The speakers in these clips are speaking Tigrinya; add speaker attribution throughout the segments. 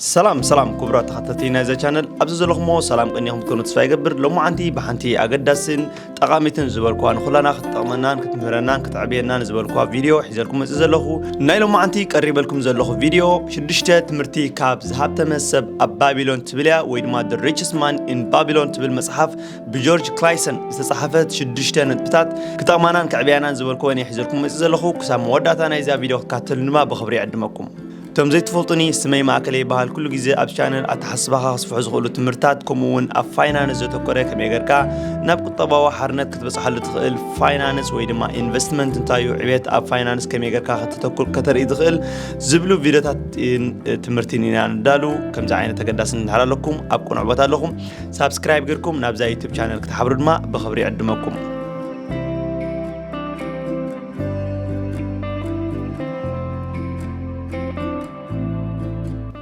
Speaker 1: ሰላም ሰላም ክቡራት ተኸታተልቲ ናይዛ ቻነል ኣብዚ ዘለኹሞ ሰላም ቅኒኹም ትኮኑ ተስፋ ይገብር ሎማዓንቲ ብሓንቲ ኣገዳሲን ጠቓሚትን ዝበልኳ ንኹላና ክትጠቕመናን ክትምህረናን ክትዕብየናን ዝበልኳ ቪድዮ ሒዘልኩም መፅእ ዘለኹ ናይ ሎማዓንቲ ቀሪበልኩም ዘለኹ ቪድዮ ሽዱሽተ ትምህርቲ ካብ ዝሃብተመ ሰብ ኣብ ባቢሎን ትብል እያ ወይ ድማ ደ ሪችስ ማን ኢን ባቢሎን ትብል መፅሓፍ ብጆርጅ ክላይሰን ዝተፃሓፈት ሽዱሽተ ነጥብታት ክጠቕማናን ክዕብያናን ዝበልኩወን እየ ሒዘልኩም መፅእ ዘለኹ ክሳብ መወዳእታ ናይዛ ቪድዮ ክትካተሉ ድማ ብኽብሪ ይዕድመኩም ከም ዘይትፈልጡኒ ስመይ ማእከለ ይበሃል ኩሉ ግዜ ኣብ ቻነል ኣተሓስባኻ ክስፍሑ ዝኽእሉ ትምህርትታት ከምኡ እውን ኣብ ፋይናንስ ዘተኮረ ከመይ ጌርካ ናብ ቁጠባዊ ሓርነት ክትበፅሓሉ ትኽእል ፋይናንስ ወይ ድማ ኢንቨስትመንት እንታይ እዩ ዕብየት ኣብ ፋይናንስ ከመይ ጌርካ ከተተኩር ከተርኢ ዝኽእል ዝብሉ ቪድዮታት ትምህርትን ኢና ንዳሉ ከምዚ ዓይነት ተገዳስን እንድሕር ኣለኩም ኣብ ቅኑዕ ቦታ ኣለኹም ሳብስክራይብ ጌርኩም ናብዛ ዩቱብ ቻነል ክትሓብሩ ድማ ብኽብሪ ይዕድመኩም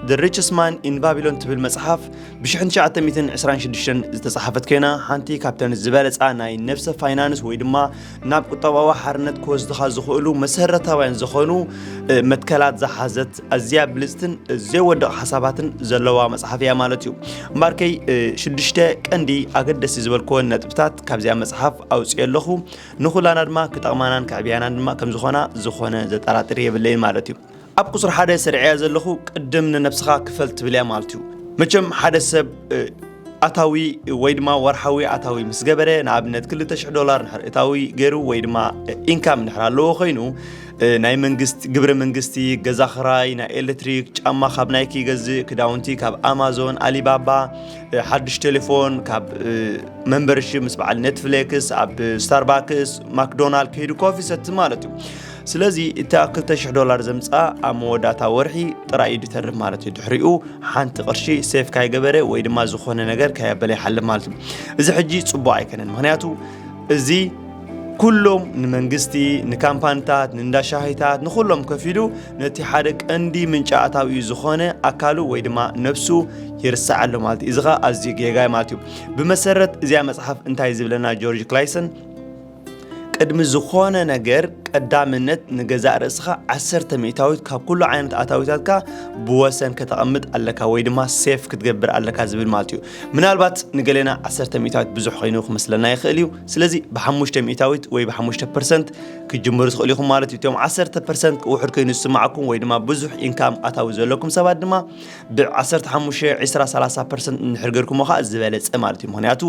Speaker 1: The Richest Man in Babylon ትብል መጽሓፍ ብ1926 ዝተጻሓፈት ኮይና ሓንቲ ካብተን ዝበለጻ ናይ ነብሰ ፋይናንስ ወይ ድማ ናብ ቁጠባዊ ሓርነት ክወስድኻ ዝኽእሉ መሰረታውያን ዝኾኑ መትከላት ዝሓዘት ኣዝያ ብልጽትን ዘይወድቕ ሓሳባትን ዘለዋ መጽሓፍ እያ ማለት እዩ እምበርከይ ሽዱሽተ ቀንዲ ኣገደሲ ዝበልክወን ነጥብታት ካብዚኣ መጽሓፍ ኣውፅኦ ኣለኹ ንኹላና ድማ ክጠቕማናን ከዕብያናን ድማ ከም ዝኾና ዝኾነ ዘጠራጥር የብለይን ማለት እዩ ኣብ ቁፅሪ ሓደ ስርዕያ ዘለኹ ቅድም ንነብስኻ ክፈል ትብል እያ ማለት እዩ መቸም ሓደ ሰብ ኣታዊ ወይ ድማ ወርሓዊ ኣታዊ ምስ ገበረ ንኣብነት 200 ዶላር ንሕር እታዊ ገይሩ ወይ ድማ ኢንካም ንሕር ኣለዎ ኮይኑ ናይ መንግስቲ ግብሪ መንግስቲ ገዛ ክራይ ናይ ኤሌክትሪክ ጫማ ካብ ናይክ ይገዝእ ክዳውንቲ ካብ ኣማዞን ኣሊባባ ሓድሽ ቴሌፎን ካብ መንበርሺ ምስ በዓል ኔትፍሌክስ ኣብ ስታርባክስ ማክዶናልድ ከይዱ ኮፊ ሰቲ ማለት እዩ ስለዚ እታ 200 ዶላር ዘምፅኣ ኣብ መወዳእታ ወርሒ ጥራይ እዩ ድተርፍ ማለት እዩ ድሕሪኡ ሓንቲ ቅርሺ ሴፍ ካይገበረ ወይ ድማ ዝኾነ ነገር ካየበለ ይሓልፍ ማለት እዩ እዚ ሕጂ ፅቡቅ ኣይከነን ምክንያቱ እዚ ኩሎም ንመንግስቲ ንካምፓኒታት ንእንዳ ሻሂታት ንኩሎም ከፊሉ ነቲ ሓደ ቀንዲ ምንጪ ኣታዊኡ ዝኾነ ኣካሉ ወይ ድማ ነብሱ ይርስዕ ኣሎ ማለት እዩ እዚ ኸዓ ኣዝዩ ጌጋይ ማለት እዩ ብመሰረት እዚኣ መፅሓፍ እንታይ ዝብለና ጆርጅ ክላይሰን ቅድሚ ዝኾነ ነገር ቀዳምነት ንገዛእ ርእስኻ ዓሰርተ ሚእታዊት ካብ ኩሉ ዓይነት ኣታዊታትካ ብወሰን ከተቐምጥ ኣለካ ወይ ድማ ሴፍ ክትገብር ኣለካ ዝብል ማለት እዩ ምናልባት ንገሌና ዓሰርተ ሚእታዊት ብዙሕ ኮይኑ ክመስለና ይኽእል እዩ ስለዚ ብሓሙሽተ ሚእታዊት ወይ ብሓሙሽተ ፐርሰንት ክትጅምሩ ትኽእሉ ኢኹም ማለት እዩ እቶም ዓሰርተ ፐርሰንት ውሑድ ኮይኑ ዝስማዕኩም ወይ ድማ ብዙሕ ኢንካም ኣታዊ ዘለኩም ሰባት ድማ ብ15 20 30 ፐርሰንት እንድሕር ገርኩሞ ከዓ ዝበለፀ ማለት እዩ ምክንያቱ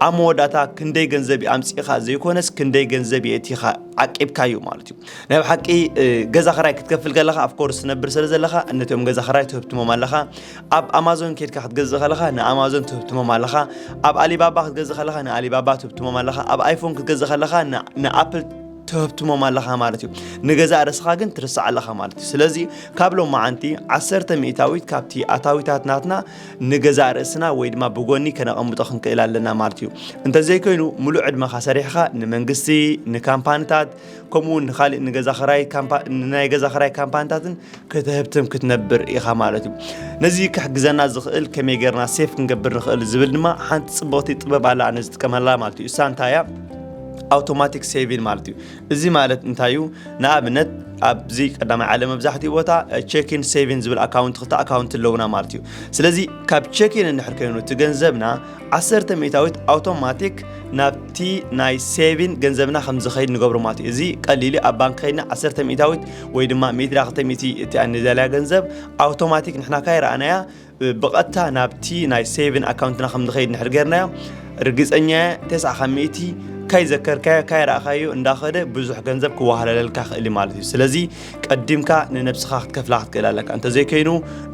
Speaker 1: ኣብ መወዳእታ ክንደይ ገንዘብ እዩ ኣምፂእኻ ዘይኮነስ ክንደይ ገንዘብ የእቲኻ ዓቂብካ እዩ ማለት እዩ ናይ ብሓቂ ገዛ ክራይ ክትከፍል ከለኻ ኣፍኮርስ ትነብር ስለ ዘለኻ ነቶም ገዛ ክራይ ትህብትሞም ኣለኻ ኣብ ኣማዞን ኬድካ ክትገዝእ ከለኻ ንኣማዞን ትህብትሞም ኣለኻ ኣብ ኣሊባባ ክትገዝእ ከለኻ ንኣሊባባ ትህብትሞም ኣለኻ ኣብ ኣይፎን ክትገዝእ ከለኻ ንኣፕል ትህብትሞም ኣለኻ ማለት እዩ ንገዛእ ርእስኻ ግን ትርስዕ ኣለኻ ማለት እዩ ስለዚ ካብ ሎማዓንቲ ዓሰርተ ሚእታዊት ካብቲ ኣታዊታት ናትና ንገዛእ ርእስና ወይ ድማ ብጎኒ ከነቐምጦ ክንክእል ኣለና ማለት እዩ እንተዘይኮይኑ ሙሉእ ዕድመኻ ሰሪሕኻ ንመንግስቲ ንካምፓኒታት ከምኡውን ንካሊእ ንገዛ ክራይ ናይ ገዛ ክራይ ካምፓኒታትን ክትህብትም ክትነብር ኢኻ ማለት እዩ ነዚ ክሕግዘና ዝኽእል ከመይ ጌርና ሴፍ ክንገብር ንኽእል ዝብል ድማ ሓንቲ ፅብቕቲ ጥበብ ኣላ ኣነ ዝጥቀመላ ማለት እዩ እሳ እንታይ እያ ኣውቶማቲክ ሴቪን ማለት እዩ እዚ ማለት እንታይ እዩ ንኣብነት ኣብዚ ቀዳማይ ዓለም መብዛሕትኡ ቦታ ቼኪን ሴቪን ዝብል ኣካውንት ክልተ ኣካውንት ኣለውና ማለት እዩ ስለዚ ካብ ቼኪን እንድሕር ኮይኑ እቲ ገንዘብና ዓሰርተ ሚእታዊት ኣውቶማቲክ ናብቲ ናይ ሴቪን ገንዘብና ከም ዝኸይድ ንገብሮ ማለት እዩ እዚ ቀሊሉ ኣብ ባንክ ከይድና ዓሰርተ ሚእታዊት ወይ ድማ ሚእቲ ዳክተ ሚእቲ እቲኣ ንደልያ ገንዘብ ኣውቶማቲክ ንሕና ካይ ረኣናያ ብቐጥታ ናብቲ ናይ ሴቪን ኣካውንትና ከም ዝኸይድ ንሕር ጌርናዮ ርግፀኛ ተስዓ ካብ ሚእቲ ካይ ዘከርካዮ ካይ ረኣኻዮ እንዳኸደ ብዙሕ ገንዘብ ክዋሃለለልካ ክእል ማለት እዩ ስለዚ ቀዲምካ ንነብስኻ ክትከፍላ ክትክእል ኣለካ እንተዘይከይኑ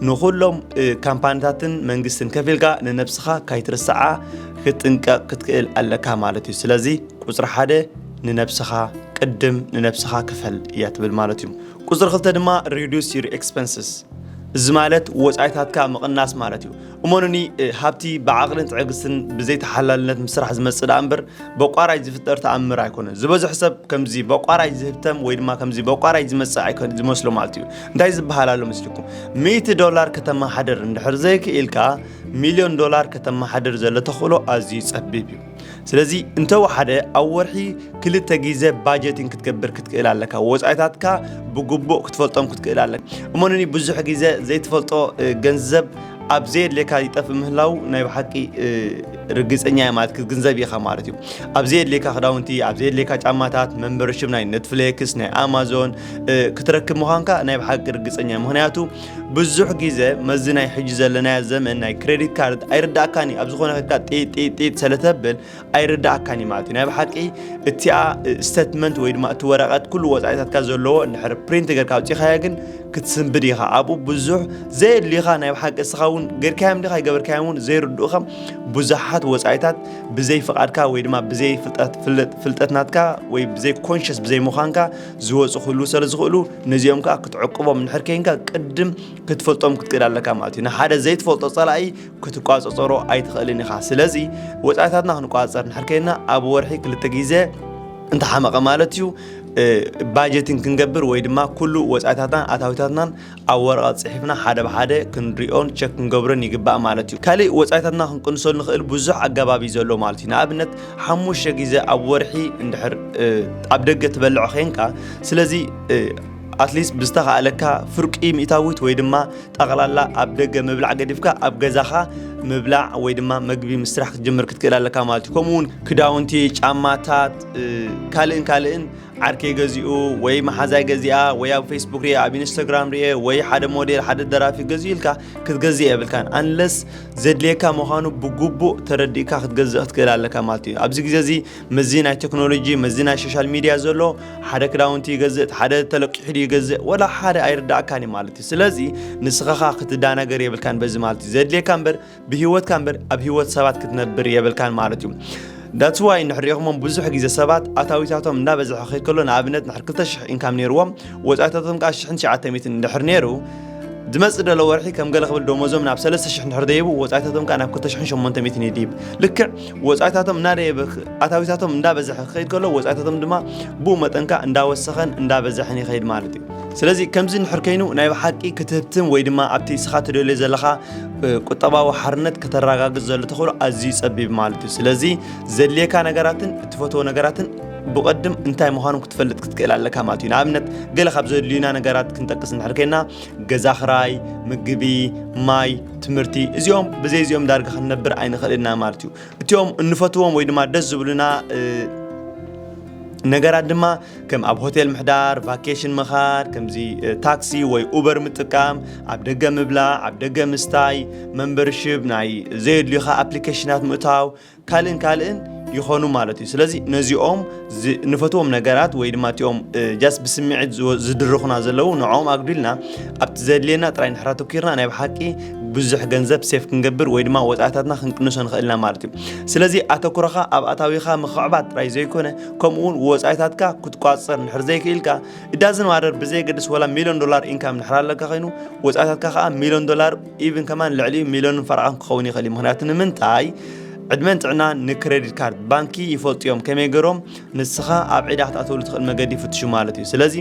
Speaker 1: ንኩሎም ካምፓኒታትን መንግስትን ከፊልካ ንነብስኻ ካይትርስዓ ክትጥንቀቕ ክትክእል ኣለካ ማለት እዩ ስለዚ ቁፅሪ ሓደ ንነብስኻ ቅድም ንነብስኻ ክፈል እያ ትብል ማለት እዩ ቁፅሪ ክልተ ድማ ሪዱስ ዩር ኤክስፐንስስ እዚ ማለት ወፃኢታትካ ምቕናስ ማለት እዩ እመኑኒ ሃብቲ ብዓቕልን ትዕግስትን ብዘይ ተሓላልነት ምስ ስራሕ ዝመፅእ ደኣ እምበር በቋራይ ዝፍጠር ተኣምር ኣይኮነን። ዝበዝሑ ሰብ ከምዚ በቋራይ ዝህብተም ወይ ድማ ከምዚ በቋራይ ዝመፅእ ኣይኮን ዝመስሎ ማለት እዩ። እንታይ ዝበሃል ኣሎ ምስልኩም ሚእቲ ዶላር ከተመሓድር እንድሕር ዘይክኢልካ ሚልዮን ዶላር ከተመሓድር ዘሎ ተኽእሎ ኣዝዩ ፀቢብ እዩ። ስለዚ እንተወሓደ ኣብ ወርሒ ክልተ ግዜ ባጀቲን ክትገብር ክትክእል ኣለካ ወፃኢታትካ ብግቡእ ክትፈልጦም ክትክእል ኣለካ እሞንኒ ብዙሕ ግዜ ዘይትፈልጦ ገንዘብ ኣብ ዘየድልየካ ይጠፍእ ምህላው ናይ ብሓቂ ርግፀኛ እየ ማለት ክትግንዘብ ኢኻ ማለት እዩ ኣብ ዘየድልየካ ክዳውንቲ ኣብ ዘየድልየካ ጫማታት መንበርሽብ ናይ ኔትፍሌክስ ናይ ኣማዞን ክትረክብ ምዃንካ ናይ ብሓቂ ርግፀኛ ምክንያቱ ብዙሕ ግዜ መዚ ናይ ሕጂ ዘለናዮ ዘመን ናይ ክሬዲት ካርድ ኣይርዳእካን እዩ ኣብ ዝኾነ ከካ ጢጢጢጥ ስለተብል ኣይርዳእካን እዩ ማለት እዩ ናይ ብሓቂ እቲኣ ስተትመንት ወይ ድማ እቲ ወረቐት ኩሉ ወፃኢታትካ ዘለዎ እንድሕር ፕሪንት ገርካ ኣውፂኻዮ ግን ክትስንብድ ኢኻ ኣብኡ ብዙሕ ዘየድልዩኻ ናይ ብሓቂ እስኻ እውን ገርካዮም ዲኻ ይገበርካዮም እውን ዘይርድኡኻ ብዙሓት ወፃኢታት ብዘይ ፍቓድካ ወይ ድማ ብዘይ ፍልጠት ፍልጠት ናትካ ወይ ብዘይ ኮንሽስ ብዘይ ምዃንካ ዝወፁ ክህልዉ ስለ ዝኽእሉ ነዚኦም ከዓ ክትዕቅቦም እንድሕር ከይንካ ቅድም ክትፈልጦም ክትክእል ኣለካ ማለት እዩ ንሓደ ዘይትፈልጦ ፀላኢ ክትቋፀፀሮ ኣይትኽእልን ኢኻ ስለዚ ወፃኢታትና ክንቋፀር እንድሕር ከይንና ኣብ ወርሒ ክልተ ግዜ እንተሓመቐ ማለት እዩ ባጀትን ክንገብር ወይ ድማ ኩሉ ወፃኢታትናን ኣታዊታትናን ኣብ ወረቐት ጽሒፍና ሓደ ብሓደ ክንሪኦን ቸክ ክንገብሮን ይግባእ ማለት እዩ። ካልእ ወጻኢታትና ክንቅንሰሉ ንኽእል ብዙሕ ኣገባብ እዩ ዘሎ ማለት እዩ። ንኣብነት ሓሙሽተ ግዜ ኣብ ወርሒ እንድሕር ኣብ ደገ ትበልዕ ዄንካ ስለዚ ኣትሊስት ብዝተኻእለካ ፍርቂ ሚእታዊት ወይ ድማ ጠቕላላ ኣብ ደገ ምብላዕ ገዲፍካ ኣብ ገዛኻ ምብላዕ ወይ ድማ መግቢ ምስራሕ ክትጅምር ክትክእል ኣለካ ማለት እዩ። ከምኡውን ክዳውንቲ፣ ጫማታት ካልእን ካልእን ዓርከይ ገዚኡ ወይ መሓዛይ ገዚኣ ወይ ኣብ ፌስቡክ ርየ ኣብ ኢንስታግራም ርየ ወይ ሓደ ሞዴል ሓደ ደራፊ ገዚኡ ኢልካ ክትገዝእ የብልካን ኣንለስ ዘድልየካ ምዃኑ ብግቡእ ተረዲእካ ክትገዝእ ክትክእል ኣለካ ማለት እዩ ኣብዚ ግዜ እዚ መዚ ናይ ቴክኖሎጂ መዚ ናይ ሶሻል ሚድያ ዘሎ ሓደ ክዳውንቲ ይገዝእ ሓደ ተለቂሑ ይገዝእ ወላ ሓደ ኣይርዳእካን እዩ ማለት እዩ ስለዚ ንስኻኻ ክትዳናገር የብልካን በዚ ማለት እዩ ዘድልየካ እምበር ብሂወትካ እምበር ኣብ ሂወት ሰባት ክትነብር የብልካን ማለት እዩ ዳትስ ዋይ ንሕሪኢኹሞም ብዙሕ ግዜ ሰባት ኣታዊታቶም እንዳበዝሐ ክኸይድ ከሎ ንኣብነት ንሕር 2,000 ኢንካም ነይርዎም ወፃኢታቶም ከዓ 1,900 እንድሕር ነይሩ ዝመፅእ ደሎ ወርሒ ከም ገለ ክብል ደሞዞም ናብ 3,000 እንድሕር ደይቡ ወፃኢታቶም ከዓ ናብ 2,800 ይድይብ ልክዕ ወፃኢታቶም እናደየበ ኣታዊታቶም እንዳበዝሐ ክኸይድ ከሎ ወፃኢታቶም ድማ ብኡ መጠን ከዓ እንዳወሰኸን እንዳበዝሐን ይኸይድ ማለት እዩ ስለዚ ከምዚ እንድሕር ከይኑ ናይ ብሓቂ ክትህብትም ወይ ድማ ኣብቲ እስኻ ትደልዮ ዘለኻ ቁጠባዊ ሓርነት ከተረጋግጽ ዘሎ ተኽእሎ ኣዝዩ ጸቢብ ማለት እዩ ስለዚ ዘድልየካ ነገራትን እትፈትዎ ነገራትን ብቐድም እንታይ ምዃኑ ክትፈልጥ ክትክእል ኣለካ ማለት እዩ ንኣብነት ገለ ካብ ዘድልዩና ነገራት ክንጠቅስ እንድሕር ኮይና ገዛ ክራይ ምግቢ ማይ ትምህርቲ እዚኦም ብዘይ እዚኦም ዳርጋ ክንነብር ኣይንኽእልና ማለት እዩ እቲኦም እንፈትዎም ወይ ድማ ደስ ዝብሉና ነገራት ድማ ከም ኣብ ሆቴል ምሕዳር፣ ቫኬሽን ምኻድ፣ ከምዚ ታክሲ ወይ ኡበር ምጥቃም፣ ኣብ ደገ ምብላዕ፣ ኣብ ደገ ምስታይ፣ መንበርሽብ ናይ ዘየድልዩኻ ኣፕሊኬሽናት ምእታው፣ ካልእን ካልእን ይኾኑ ማለት እዩ። ስለዚ ነዚኦም ንፈትዎም ነገራት ወይ ድማ እቲኦም ጃስ ብስምዒት ዝድርኹና ዘለዉ ንዕኦም ኣጉዲልና ኣብቲ ዘድልየና ጥራይ ንሕራ ተኪርና ናይ ብሓቂ ብዙሕ ገንዘብ ሴፍ ክንገብር ወይ ድማ ወፃእታትና ክንቅንሶ ንኽእልና ማለት እዩ። ስለዚ ኣተኩሮኻ ኣብ ኣታዊኻ ምኽዕባት ጥራይ ዘይኮነ ከምኡ እውን ወፃኢታትካ ክትቋፀር ንድሕር ዘይክኢልካ እዳዝን ማደር ብዘየገድስ ወላ ሚሊዮን ዶላር ኢንካም ንድሕር ኣለካ ኮይኑ ወፃኢታትካ ከዓ ሚሊዮን ዶላር ኢቭን ከማን ልዕሊ ሚሊዮን ፈረቓን ክኸውን ይኽእል እዩ ምክንያቱ ንምንታይ ዕድመን ጥዕና ንክሬዲት ካርድ ባንኪ ይፈልጡ እዮም ከመይ ገይሮም ንስኻ ኣብ ዒዳ ክትኣተውሉ ትኽእል መገዲ ይፍትሹ ማለት እዩ ስለዚ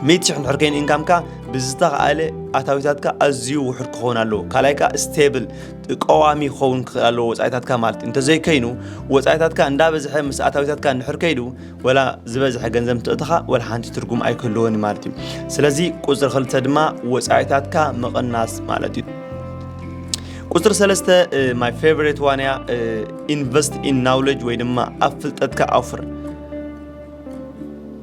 Speaker 1: ሚእቲ ሽሕ ንድሕር ከይኑ ኢንካምካ ብዝተኸኣለ ኣታዊታትካ ኣዝዩ ውሑድ ክኸውን ኣለዎ ካልኣይ ከዓ ስቴብል ቀዋሚ ክኸውን ክኽእል ኣለዎ ወፃኢታትካ ማለት እንተዘይከይኑ ወፃኢታትካ እንዳበዝሐ ምስ ኣታዊታትካ እንድሕር ከይዱ ወላ ዝበዝሐ ገንዘብ እንትእትኻ ወላ ሓንቲ ትርጉም ኣይክህልዎን ማለት እዩ ስለዚ ቁፅሪ ክልተ ድማ ወፃኢታትካ ምቕናስ ማለት እዩ ቁፅሪ ሰለስተ ማይ ፌቨሬት ዋንያ ኢንቨስት ኢን ናውለጅ ወይ ድማ ኣብ ፍልጠትካ ኣውፍር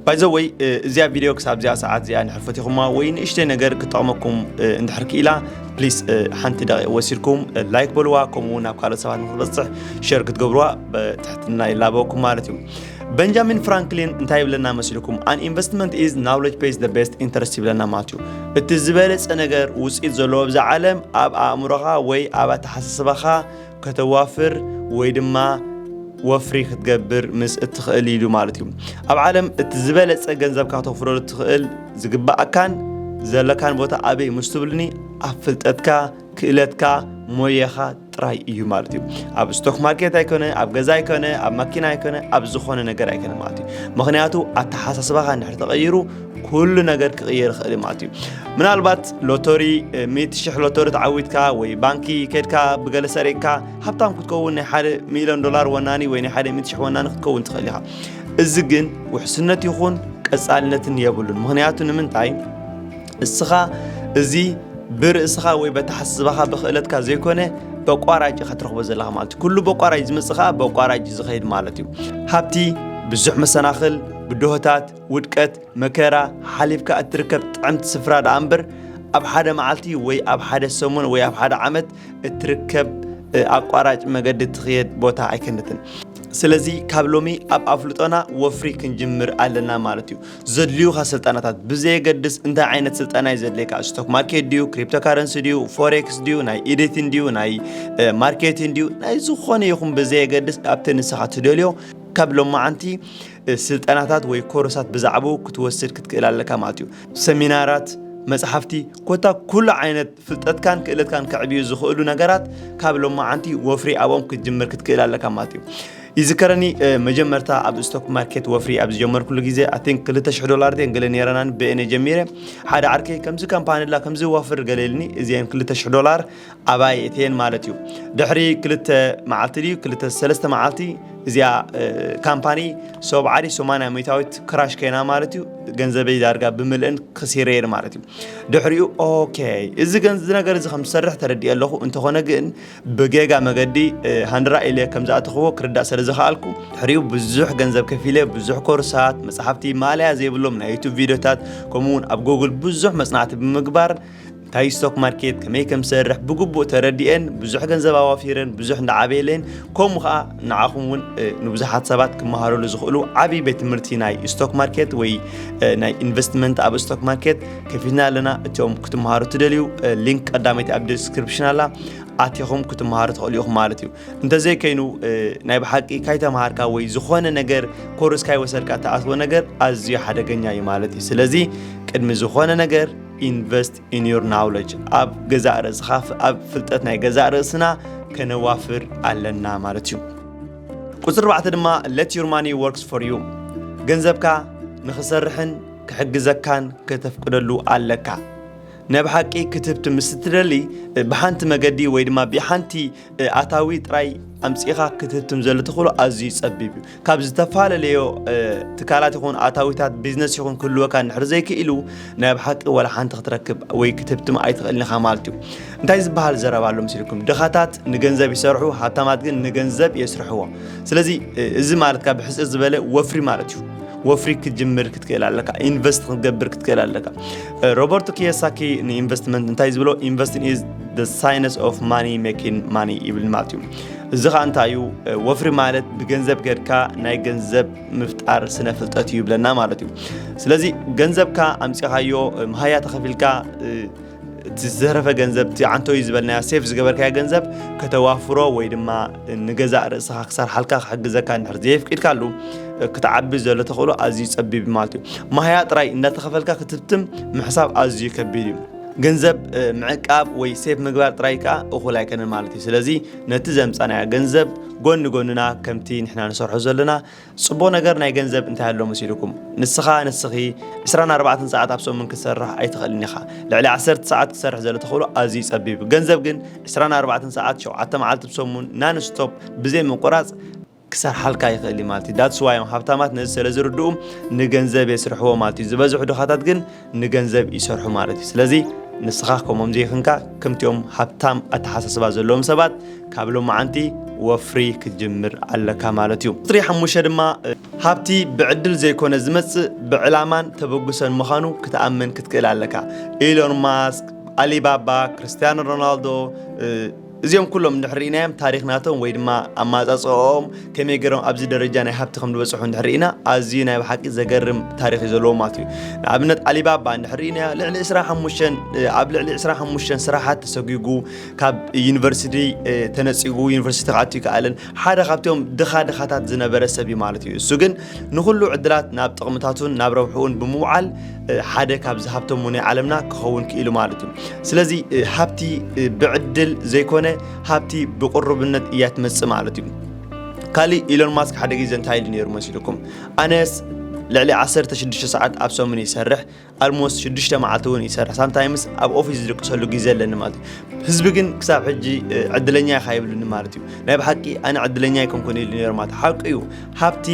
Speaker 1: ባይ ዘ ወይ እዚኣ ቪድዮ ክሳብ እዚኣ ሰዓት እዚኣ እንድሕር ፈቲኹማ ወይ ንእሽተይ ነገር ክጠቕመኩም እንድሕር ክኢላ ፕሊስ ሓንቲ ደቂቕ ወሲድኩም ላይክ በልዋ ከምኡ እውን ኣብ ካልኦት ሰባት ንክበፅሕ ሸር ክትገብርዋ ብትሕትና ይላበወኩም ማለት እዩ በንጃሚን ፍራንክሊን እንታይ ይብለና መስልኩም ኣን ኢንቨስትመንት ኢዝ ናውሌጅ ፔይስ ደ ቤስት ኢንተረስት ይብለና ማለት እዩ እቲ ዝበለፀ ነገር ውፅኢት ዘለዎ ብዛ ዓለም ኣብ ኣእምሮኻ ወይ ኣብ ኣተሓሳስባኻ ከተዋፍር ወይ ድማ ወፍሪ ክትገብር ምስ እትኽእል ኢሉ ማለት እዩ ኣብ ዓለም እቲ ዝበለፀ ገንዘብካ ተፍረሉ እትኽእል ዝግባእካን ዘለካን ቦታ ኣበይ ምስ ትብልኒ ኣብ ፍልጠትካ ክእለትካ ሞየኻ ጥራይ እዩ ማለት እዩ ኣብ ስቶክ ማርኬት ኣይኮነ ኣብ ገዛ ኣይኮነ ኣብ ማኪና ኣይኮነ ኣብ ዝኾነ ነገር ኣይኮነ ማለት እዩ ምክንያቱ ኣተሓሳስባኻ እንድሕር ተቐይሩ ኩሉ ነገር ክቕየር ይኽእል እዩ ማለት እዩ ምናልባት ሎተሪ ሚእቲ ሽሕ ሎተሪ ተዓዊትካ ወይ ባንኪ ከድካ ብገለ ሰሪቅካ ሃብታም ክትከውን ናይ ሓደ ሚሊዮን ዶላር ወናኒ ወይ ናይ ሓደ ሚእቲ ሽሕ ወናኒ ክትከውን ትኽእል ኢኻ እዚ ግን ውሕስነት ይኹን ቀጻልነትን የብሉን ምክንያቱ ንምንታይ እስኻ እዚ ብርእስኻ ወይ በተሓስባኻ ብክእለትካ ዘይኮነ በቋራጭ ኢኻ ትረኽቦ ዘለኻ ማለት እዩ ኩሉ በቋራጭ ዝመፅእ ከዓ በቋራጭ ዝኸይድ ማለት እዩ ሃብቲ ብዙሕ መሰናኽል ብድሆታት ውድቀት፣ መከራ፣ ሓሊፍካ እትርከብ ጥዕምቲ ስፍራ ደኣ እምበር ኣብ ሓደ መዓልቲ ወይ ኣብ ሓደ ሰሙን ወይ ኣብ ሓደ ዓመት እትርከብ ኣቋራጭ መገዲ ትኽየድ ቦታ ኣይከነትን ስለዚ ካብ ሎሚ ኣብ ኣፍልጦና ወፍሪ ክንጅምር ኣለና ማለት እዩ ዘድልዩካ ስልጠናታት ብዘየገድስ እንታይ ዓይነት ስልጠና እዩ ዘድልየካ ስቶክ ማርኬት ድዩ ክሪፕቶ ካረንሲ ድዩ ፎሬክስ ድዩ ናይ ኤዲቲን ድዩ ናይ ማርኬቲን ድዩ ናይ ዝኾነ ይኹን ብዘየገድስ ኣብቲ ንስኻ ትደልዮ ካብ ሎማዓንቲ ስልጠናታት ወይ ኮርሳት ብዛዕባኡ ክትወስድ ክትክእል ኣለካ ማለት እዩ። ሰሚናራት፣ መጽሓፍቲ፣ ኮታ ኩሉ ዓይነት ፍልጠትካን ክእለትካን ከዕብዩ ዝኽእሉ ነገራት ካብ ሎማዓንቲ ወፍሪ ኣብኦም ክትጅምር ክትክእል ኣለካ ማለት እዩ። ይዝከረኒ መጀመርታ ኣብ ስቶክ ማርኬት ወፍሪ ኣብ ዝጀመርኩሉ ግዜ ኣይ ቲንክ ክልተ ሽሕ ዶላር ድየን ገለ ነይረናን ብኤነ ጀሚረ ሓደ ዓርከይ ከምዚ ካምፓኒ ኣላ ከምዚ ወፍር ገለ ኢልኒ እዚኤን ክልተ ሽሕ ዶላር ኣባይ እቴን ማለት እዩ ድሕሪ ክልተ መዓልቲ ድዩ ክልተ ሰለስተ መዓልቲ እዚኣ ካምፓኒ ሰብዓሪ ሰማንያ ሚታዊት ክራሽ ከይና ማለት እዩ ገንዘበይ ዳርጋ ብምልእን ክሲረየን ማለት እዩ ድሕሪኡ ኦኬ እዚ ገንዚ ነገር እዚ ከም ዝሰርሕ ተረዲእ ኣለኹ እንተኾነ ግን ብጌጋ መገዲ ሃንድራ ኢለ ከም ዝኣተኽዎ ክርዳእ ስለ ዝኸኣልኩ ድሕሪኡ ብዙሕ ገንዘብ ከፊለ ብዙሕ ኮርሳት መፅሓፍቲ ማለያ ዘይብሎም ናይ ዩቱብ ቪድዮታት ከምኡውን ኣብ ጎግል ብዙሕ መፅናዕቲ ብምግባር እንታይ ስቶክ ማርኬት ከመይ ከም ዝሰርሕ ብግቡእ ተረዲኤን ብዙሕ ገንዘብ ኣዋፊረን ብዙሕ እንዳዓበየለን ከምኡ ከዓ ንዓኹም እውን ንብዙሓት ሰባት ክመሃረሉ ዝኽእሉ ዓብዪ ቤት ትምህርቲ ናይ ስቶክ ማርኬት ወይ ናይ ኢንቨስትመንት ኣብ ስቶክ ማርኬት ከፊትና ኣለና እቶም ክትመሃሩ ትደልዩ ሊንክ ቀዳመይቲ ኣብ ዲስክሪፕሽን ኣላ ኣቲኹም ክትመሃሩ ትኽእሉ ኢኹም ማለት እዩ እንተዘይከይኑ ናይ ብሓቂ ካይተምሃርካ ወይ ዝኾነ ነገር ኮርስ ካይወሰድካ እትኣትዎ ነገር ኣዝዩ ሓደገኛ እዩ ማለት እዩ ስለዚ ቅድሚ ዝኾነ ነገር ኢንቨስት ኢን ዮር ናውለጅ ኣብ ገዛእ ርእስኻ ኣብ ፍልጠት ናይ ገዛእ ርእስና ከነዋፍር ኣለና ማለት እዩ ቁፅሪ ኣርባዕተ ድማ ለት ዩር ማኒ ወርክስ ፎር ዩ ገንዘብካ ንኽሰርሕን ክሕግዘካን ከተፍቅደሉ ኣለካ ነብ ሓቂ ክትብቲ ምስ እትደሊ ብሓንቲ መገዲ ወይ ድማ ብሓንቲ ኣታዊ ጥራይ ኣምፂእኻ ክትህትም ዘሎ ተኽእሎ ኣዝዩ ፀቢብ እዩ ካብ ዝተፈላለዮ ትካላት ይኹን ኣታዊታት ቢዝነስ ይኹን ክህልወካ ንድሕር ዘይክኢሉ ናይ ኣብ ሓቂ ዋላ ሓንቲ ክትረክብ ወይ ክትህብትም ኣይትኽእልን ኢኻ ማለት እዩ እንታይ ዝበሃል ዘረባ ኣሎ ምስልኩም ድኻታት ንገንዘብ ይሰርሑ ሃብታማት ግን ንገንዘብ የስርሕዎ ስለዚ እዚ ማለት ካብ ሕፅር ዝበለ ወፍሪ ማለት እዩ ወፍሪ ክትጅምር ክትክእል ኣለካ ኢንቨስት ክትገብር ክትክእል ኣለካ ሮበርቶ ኪዮሳኪ ንኢንቨስትመንት እንታይ እዩ ዝብሎ ኢንቨስትን ኢዝ ደ ሳይነስ ኦፍ ማኒ ሜኪን ማኒ ይብል ማለት እዩ እዚ ከዓ እንታይ እዩ ወፍሪ ማለት ብገንዘብ ጌርካ ናይ ገንዘብ ምፍጣር ስነ ፍልጠት እዩ ይብለና ማለት እዩ ስለዚ ገንዘብካ ኣምፂኻዮ መሃያ ተኸፊልካ እቲ ዝተረፈ ገንዘብ እቲ ዓንቶ እዩ ዝበልናዮ ሴፍ ዝገበርካዮ ገንዘብ ከተዋፍሮ ወይ ድማ ንገዛእ ርእስኻ ክሰርሓልካ ክሕግዘካ እንድሕር ዘየፍቂድካሉ ክትዓቢ ዘሎ ተኽእሎ ኣዝዩ ጸቢብ ማለት እዩ ማህያ ጥራይ እንዳተኸፈልካ ክትትም ምሕሳብ ኣዝዩ ከቢድ እዩ ገንዘብ ምዕቃብ ወይ ሴፍ ምግባር ጥራይ ከዓ እኹል ኣይከነን ማለት እዩ ስለዚ ነቲ ዘምፃናዮ ገንዘብ ጎኒ ጎንና ከምቲ ንሕና ንሰርሖ ዘለና ጽቡቕ ነገር ናይ ገንዘብ እንታይ ኣሎ መሲልኩም? ንስኻ፣ ንስኺ ዕስራን ኣርባዕተን ሰዓት ኣብ ሰሙን ክትሰርሕ ኣይትኽእልን ኢኻ። ልዕሊ ዓሰርተ ሰዓት ክትሰርሕ ዘሎ ተኽእሎ ኣዝዩ ጸቢብ እዩ። ገንዘብ ግን ዕስራን ኣርባዕተን ሰዓት ሸውዓተ መዓልቲ ብሰሙን non stop ብዘይ ምቁራጽ፣ ክሰርሓልካ ይኽእል እዩ ማለት እዩ። That's why እዮም ሃብታማት ነዚ ሰለዝርድኡ ንገንዘብ የስርሕዎ ማለት እዩ። ዝበዝሑ ድኻታት ግን ንገንዘብ ይሰርሑ ማለት እዩ ስለዚ ንስኻ ከምኦም ዘይኽንካ ከምቲኦም ሃብታም ኣተሓሳስባ ዘለዎም ሰባት ካብ ሎማዓንቲ ወፍሪ ክትጅምር ኣለካ ማለት እዩ ቁፅሪ ሓሙሽተ ድማ ሃብቲ ብዕድል ዘይኮነ ዝመፅእ ብዕላማን ተበግሶን ምዃኑ ክትኣምን ክትክእል ኣለካ ኢሎን ማስክ ኣሊባባ ክርስትያኖ ሮናልዶ እዚኦም ኩሎም እንድሕር ርኢናዮም ታሪኽ ናቶም ወይ ድማ ኣመጻጽኣኦም ከመይ ገይሮም ኣብዚ ደረጃ ናይ ሃብቲ ከም ዝበጽሑ እንድሕር ርኢና ኣዝዩ ናይ ብሓቂ ዘገርም ታሪኽ እዩ ዘለዎም ማለት እዩ ንኣብነት ኣሊባባ እንድሕር ርኢናዮ ልዕሊ 25 ኣብ ልዕሊ 25 ስራሓት ተሰጒጉ ካብ ዩኒቨርሲቲ ተነጺጉ ዩኒቨርሲቲ ክኣቱ ይከኣልን ሓደ ካብቶም ድኻ ድኻታት ዝነበረ ሰብ እዩ ማለት እዩ እሱ ግን ንኹሉ ዕድላት ናብ ጥቕምታቱን ናብ ረብሕኡን ብምውዓል ሓደ ካብ ዝሃብተሙ ናይ ዓለምና ክኸውን ክኢሉ ማለት እዩ ስለዚ ሃብቲ ብዕድል ዘይኮነ ሃብቲ ብቅሩብነት እያ ትመፅእ ማለት እዩ ካሊእ ኢሎን ማስክ ሓደ ግዜ እንታይ ኢሉ ነይሩ መሲልኩም ኣነስ ልዕሊ 16 ሰዓት ኣብ ሰሙን ይሰርሕ ኣልሞስ 6 መዓልቲ እውን ይሰርሕ ሳምታይምስ ኣብ ኦፊስ ዝድቅሰሉ ግዜ ኣለኒ ማለት እዩ ህዝቢ ግን ክሳብ ሕጂ ዕድለኛ ኢኻ ይብልኒ ማለት እዩ ናይ ብሓቂ ኣነ ዕድለኛ ኣይኮንኩን ኢሉ ነይሩ ማለት ሓቂ እዩ ሃብቲ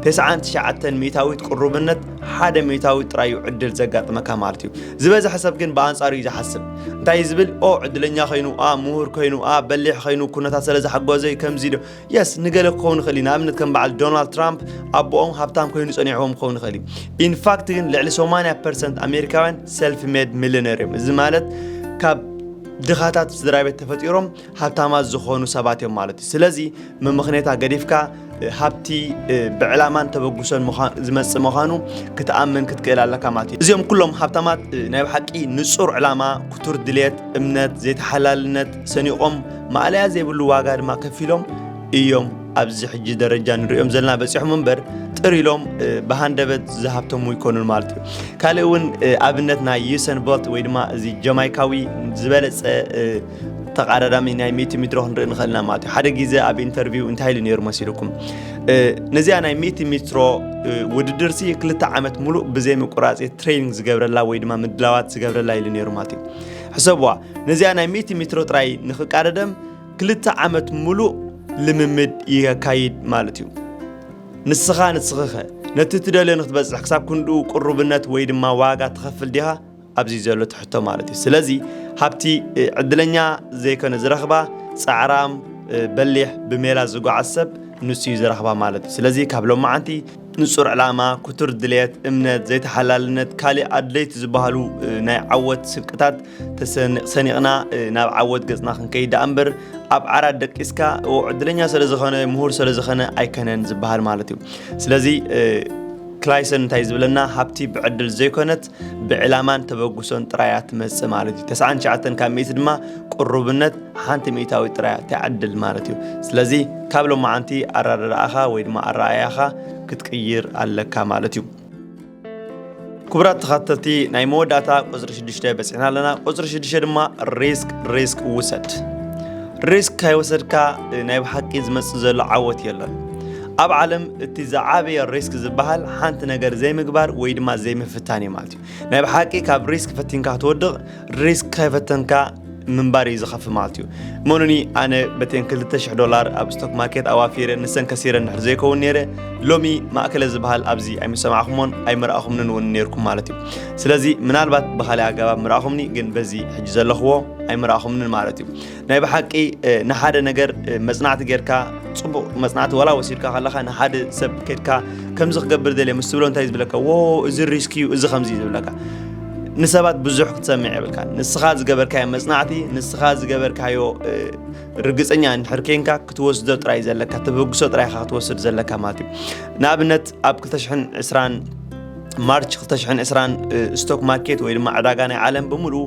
Speaker 1: ተስዓን ትሽዓተን ሚእታዊት ቅሩብነት ሓደ ሚእታዊት ጥራይ እዩ ዕድል ዘጋጥመካ ማለት እዩ ዝበዝሐ ሰብ ግን ብኣንጻሩ እዩ ዝሓስብ እንታይ ዝብል ኦ ዕድለኛ ኮይኑ ኣ ምሁር ኮይኑ ኣ በሊሕ ኮይኑ ኩነታት ስለ ዝሓጎዘ ከምዚ ዶ የስ ንገለ ክኸውን ይኽእል እዩ ንኣብነት ከም በዓል ዶናልድ ትራምፕ ኣቦኦም ሃብታም ኮይኑ ጸኒዕዎም ክኸውን ይኽእል እዩ ኢንፋክት ግን ልዕሊ 80 ፐርሰንት ኣሜሪካውያን ሰልፍ ሜድ ሚሊነር እዮም እዚ ማለት ካብ ድኻታት ስድራ ቤት ተፈጢሮም ሃብታማት ዝኾኑ ሰባት እዮም ማለት እዩ ስለዚ ምምኽኔታ ገዲፍካ ሃብቲ ብዕላማን ተበግሶን ዝመፅእ ምዃኑ ክትኣምን ክትክእል ኣለካ ማለት እዩ እዚኦም ኩሎም ሃብታማት ናይ ብሓቂ ንፁር ዕላማ ክቱር ድሌት እምነት ዘይተሓላልነት ሰኒቖም ማእለያ ዘይብሉ ዋጋ ድማ ከፊሎም እዮም ኣብዚ ሕጂ ደረጃ ንሪኦም ዘለና በፂሖም እምበር ጥር ኢሎም ብሃንደበት ዝሃብተሙ ይኮኑን ማለት እዩ ካልእ እውን ኣብነት ናይ ዩሰን ቦልት ወይ ድማ እዚ ጀማይካዊ ዝበለፀ ተቃዳዳሚ ናይ ሚእቲ ሚድሮ ክንርኢ ንኽእል ኢና ማለት እዩ ሓደ ግዜ ኣብ ኢንተርቪው እንታይ ኢሉ ነይሩ መሲልኩም ነዚኣ ናይ ሚእቲ ሚትሮ ውድድር ሲ ክልተ ዓመት ሙሉእ ብዘይ ምቁራፅ ትሬኒንግ ዝገብረላ ወይ ድማ ምድላዋት ዝገብረላ ኢሉ ነይሩ ማለት እዩ ሕሰብዋ ነዚኣ ናይ ሚእቲ ሚትሮ ጥራይ ንኽቃደደም ክልተ ዓመት ሙሉእ ልምምድ የካይድ ማለት እዩ ንስኻ ንስኽኸ ነቲ ትደልዮ ንክትበፅሕ ክሳብ ክንድኡ ቅሩብነት ወይ ድማ ዋጋ ትኸፍል ዲኻ ኣብዚ ዘሎ ትሕቶ ማለት እዩ ስለዚ ሃብቲ ዕድለኛ ዘይኮነ ዝረኽባ ፃዕራም በሊሕ ብሜላ ዝጓዓዝ ሰብ ንሱ እዩ ዝረኽባ ማለት እዩ ስለዚ ካብ ሎማዓንቲ ንጹር ዕላማ ክቱር ድልየት እምነት ዘይተሓላልነት ካሊእ ኣድለይቲ ዝበሃሉ ናይ ዓወት ስንቅታት ሰኒቕና ናብ ዓወት ገጽና ክንከይድ ደኣ እምበር ኣብ ዓራት ደቂስካ ዕድለኛ ስለ ዝኾነ ምሁር ስለ ዝኾነ ኣይከነን ዝበሃል ማለት እዩ ስለዚ ክላይሰን እንታይ ዝብለና ሃብቲ ብዕድል ዘይኮነት ብዕላማን ተበግሶን ጥራይ እያ ትመጽእ ማለት እዩ ተስዓን ትሽዓተን ካብ ሚእቲ ድማ ቅሩብነት ሓንቲ ሚእታዊት ጥራይ እያ ትዕድል ማለት እዩ ስለዚ ካብ ሎማዓንቲ ኣረዳድኣኻ ወይ ድማ ኣረኣእያኻ ክትቅይር ኣለካ ማለት እዩ ክቡራት ተኸተልቲ ናይ መወዳእታ ቁፅሪ ሽዱሽተ በፂሕና ኣለና ቁፅሪ ሽዱሽተ ድማ ሪስክ ሪስክ ውሰድ ሪስክ ካይወሰድካ ናይ ብሓቂ ዝመፅእ ዘሎ ዓወት የለን ኣብ ዓለም እቲ ዝዓበየ ሪስክ ዝበሃል ሓንቲ ነገር ዘይምግባር ወይ ድማ ዘይምፍታን እዩ ማለት እዩ ናይ ብሓቂ ካብ ሪስክ ፈቲንካ ክትወድቕ ሪስክ ከይፈተንካ ምንባር እዩ ዝኸፍ ማለት እዩ እመኑኒ ኣነ በተን 200 ዶላር ኣብ ስቶክ ማርኬት ኣዋፊረ ንሰን ከሲረ ንድሕር ዘይከውን ነይረ ሎሚ ማእከለ ዝበሃል ኣብዚ ኣይምሰማዕኹሞን ኣይምርኣኹምንን እውን ነይርኩም ማለት እዩ ስለዚ ምናልባት ብካሊእ ኣገባብ ምርኣኹምኒ ግን በዚ ሕጂ ዘለኽዎ ኣይምርኣኹምንን ማለት እዩ ናይ ብሓቂ ንሓደ ነገር መጽናዕቲ ጌርካ ጽቡቕ መጽናዕቲ ዋላ ወሲድካ ከለካ ንሓደ ሰብ ከድካ ከምዚ ክገብር ደልየ ምስ ትብሎ እንታይ ዝብለካ ዎ እዚ ሪስክ እዩ እዚ ከምዚ እዩ ዝብለካ ንሰባት ብዙሕ ክትሰምዕ የብልካ ንስኻ ዝገበርካዮ መጽናዕቲ ንስኻ ዝገበርካዮ ርግፀኛ እንድሕር ኬንካ ክትወስዶ ጥራይ ዘለካ ተበግሶ ጥራይ ኢኻ ክትወስድ ዘለካ ማለት እዩ ንኣብነት ኣብ 220 ማርች 220 ስቶክ ማርኬት ወይ ድማ ዕዳጋ ናይ ዓለም ብምሉኡ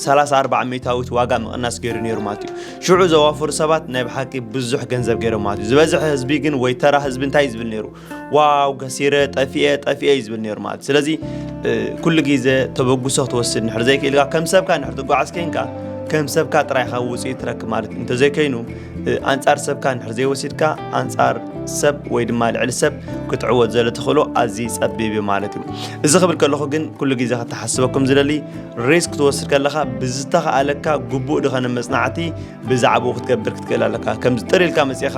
Speaker 1: ሰላሳ ኣርባዓ ሚእታዊት ዋጋ ምቕናስ ገይሩ ነይሩ ማለት እዩ ሽዑ ዘዋፍሩ ሰባት ናይ ብሓቂ ብዙሕ ገንዘብ ገይሮም ማለት እዩ ዝበዝሐ ህዝቢ ግን ወይ ተራ ህዝቢ እንታይ እዩ ዝብል ነይሩ ዋው ከሲረ ጠፊኤ ጠፊኤ እዩ ዝብል ነይሩ ማለት ስለዚ እ፣ ኩሉ ግዜ ተበግሶ ክትወስድ ንሕር ዘይክኢልካ ከም ሰብካ ንሕር ትጓዓዝ ኮንካ ከም ሰብካ ጥራይኻ ውፅኢት ትረክብ ማለት እዩ። እንተዘይከይኑ እ፣ ኣንጻር ሰብካ ንሕር ዘይወሲድካ ኣንጻር ሰብ ወይ ድማ ልዕሊ ሰብ ክትዕወት ዘሎ ተኽእሎ ኣዝዩ ጸቢብ እዩ ማለት እዩ እዚ ክብል ከለኹ ግን ኩሉ ግዜ ከተሓስበኩም ዝደሊ ሪስክ ክትወስድ ከለኻ ብዝተኸኣለካ ግቡእ ድኸነ መፅናዕቲ ብዛዕባኡ ክትገብር ክትክእል ኣለካ ከምዚ ጥር ኢልካ መፅኻ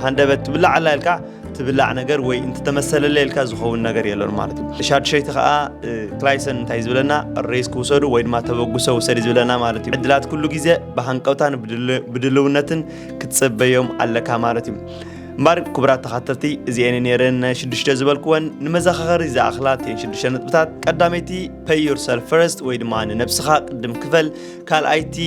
Speaker 1: ሃንደበት ትብላዕ ኣላ ኢልካ ትብላዕ ነገር ወይ እንተተመሰለለ ኢልካ ዝኸውን ነገር የለን ማለት እዩ ሻድሸይቲ ከዓ ክላይሰን እንታይ ዝብለና ሬስክ ውሰዱ ወይ ድማ ተበግሶ ውሰድ ዝብለና ማለት እዩ ዕድላት ኩሉ ግዜ ብሃንቀውታን ብድልውነትን ክትፅበዮም ኣለካ ማለት እዩ እምበር ክቡራት ተኸተልቲ እዚአን ነይረን ሽዱሽተ ዝበልክወን ንመዘኻኸሪ ዝኣኽላ እተን ሽዱሽተ ነጥብታት ቀዳመይቲ Pay yourself first ወይ ድማ ንነብስኻ ቅድም ክፈል ካልኣይቲ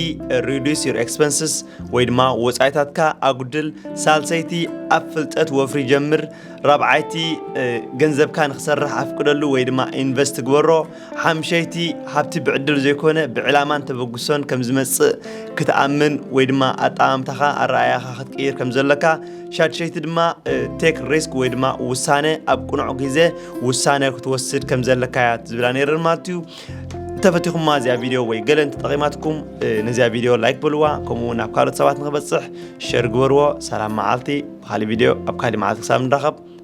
Speaker 1: reduce your expenses ወይ ድማ ወፃኢታትካ ኣጉድል ሳልሰይቲ ኣብ ፍልጠት ወፍሪ ጀምር ራብዓይቲ ገንዘብካ ንክሰርሕ ኣፍቅደሉ ወይ ድማ ኢንቨስት ግበሮ ሓምሸይቲ ሃብቲ ብዕድል ዘይኮነ ብዕላማን ተበግሶን ከም ዝመፅእ ክትኣምን ወይ ድማ ኣጠማምታኻ ኣረኣያኻ ክትቅይር ከም ዘለካ ሻድሸይቲ ድማ ቴክ ሪስክ ወይ ድማ ውሳነ ኣብ ቅኑዕ ግዜ ውሳነ ክትወስድ ከም ዘለካ እያ ዝብላ ነይረን ማለት እዩ እንተፈቲኹማ እዚኣ ቪድዮ ወይ ገለ እንተጠቂማትኩም ነዚኣ ቪድዮ ላይክ በልዋ ከምኡ እውን ኣብ ካልኦት ሰባት ንክበፅሕ ሸር ግበርዎ ሰላም መዓልቲ ብካሊእ ቪድዮ ኣብ ካሊእ መዓልቲ ክሳብ ንራኸብ